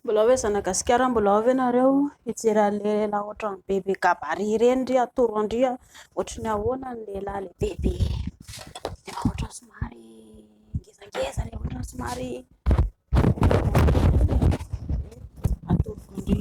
Mbola hoe zanagasikara mbola ao ve nareo hijery anle lehilahy otrany be be gabarit ireny ndry atoro andry otrany ahoana ny lehilahy le be be efa otrany somary ngezangeza le otrany somary atoro andry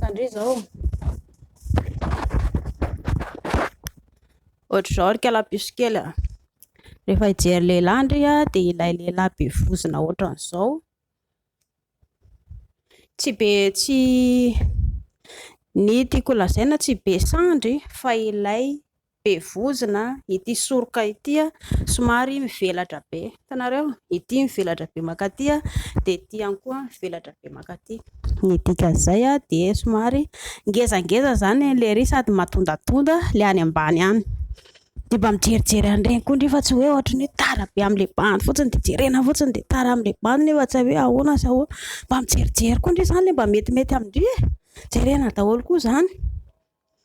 Tandreo izao. Ohatr'izao ry kalapiso kely a. Rehefa hijery lehilahy ndry a, dia ilay lehilahy be vozona ohatran'izao. Tsy be tsy ny tiako lazaina tsy be sandry fa ilay Be vozona ity soroka ity a, somary mivelatra be, hitanareo? Ity mivelatra be mankaty a, dia ity ihany koa mivelatra be mankaty. Ny dikan'izay a, dia somary ngezangeza izany any lery sady matondatonda le any ambany any. Dia mba mijerijery an'ireny koa ndry fa tsy hoe ohatry ny hoe tara be amin'ny le bandy fotsiny dia jerena fotsiny dia tara amin'ny le bandy nefa tsy hay hoe ahoana sy ahoana. Mba mijerijery koa ndry izany le mba metimety amin-dry e. Jerena daholo koa izany.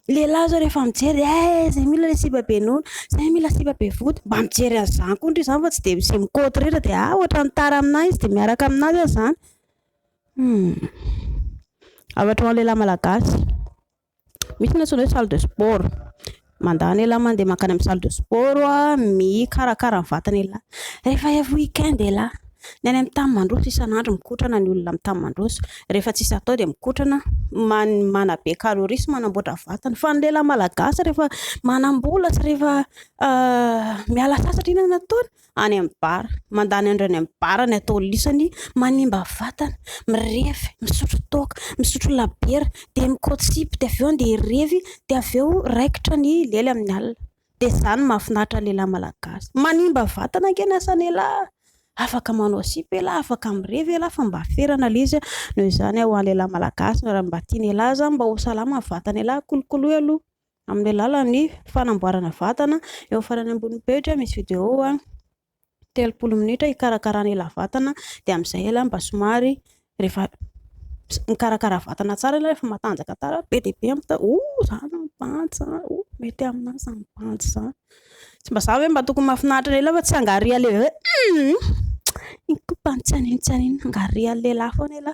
Lehilahy zao rehefa mijery eh zay mila le sipa be nono, zay mila sipa be vody, mba mijery an'izany koa ndry izany fa tsy dia mi- mi côte rehetra dia ah ohatran'ny tara amin'ahy izy dia miaraka amin'azy aza izany. Hum. Afaka ho an'ny lehilahy malagasy. Misy ny antsoina hoe salle de sport. Mandany lehilahy mandeha mankany amin'ny salle de sport mikarakara ny vatan'ialahy. Rehefa avy week-end ialahy. Ny any amin'ny tany mandroso, isan'andro mikotrana ny olona amin'ny tany mandroso. Rehefa tsisy atao dia mikotrana, manabe calories sy manamboatra vatana. Fa ny lehilahy malagasy rehefa manam-bola sy rehefa miala sasatra, inona no ataony? Any amin'ny bar. Mandany andro any amin'ny bar ny ataolisany, manimba vatana, mirevy, misotro toaka, misotro labiera, dia mikaoty sipa, dia avy eo dia revy, dia avy eo raikitra ny lely amin'ny alina. dia zany no mahafinaritra ny lehilahy malagasy. Manimba vatana ange ny asan'ialahy, afaka manao sipa ialahy, afaka mirevy ialahy fa mba ferana ilay izy, noho izany ho an'ny lehilahy malagasy raha mba tian'ialahy zany mba ho salama ny vatan'ialahy, kolokoloy aloha amin'ny alalan'ny fanamboarana vatana, eo amin'ny farany ambonin'ny pejy misy vidéo. telopolo minitra hikarakarana ila vatana dia amin'izay ila mba somary rehefa mikarakara vatana tsara ila rehefa matanjaka tsara be dia be amin'izay oh izany ny bandy izany oh mety amin'ahy izany bandy izany tsy mba za ve mba tokony mahafinaritra lehilahy fa tsy hangaria lehilahy hoe hum iny koa mba tsy haninontsininona hangaria lehilahy foana ila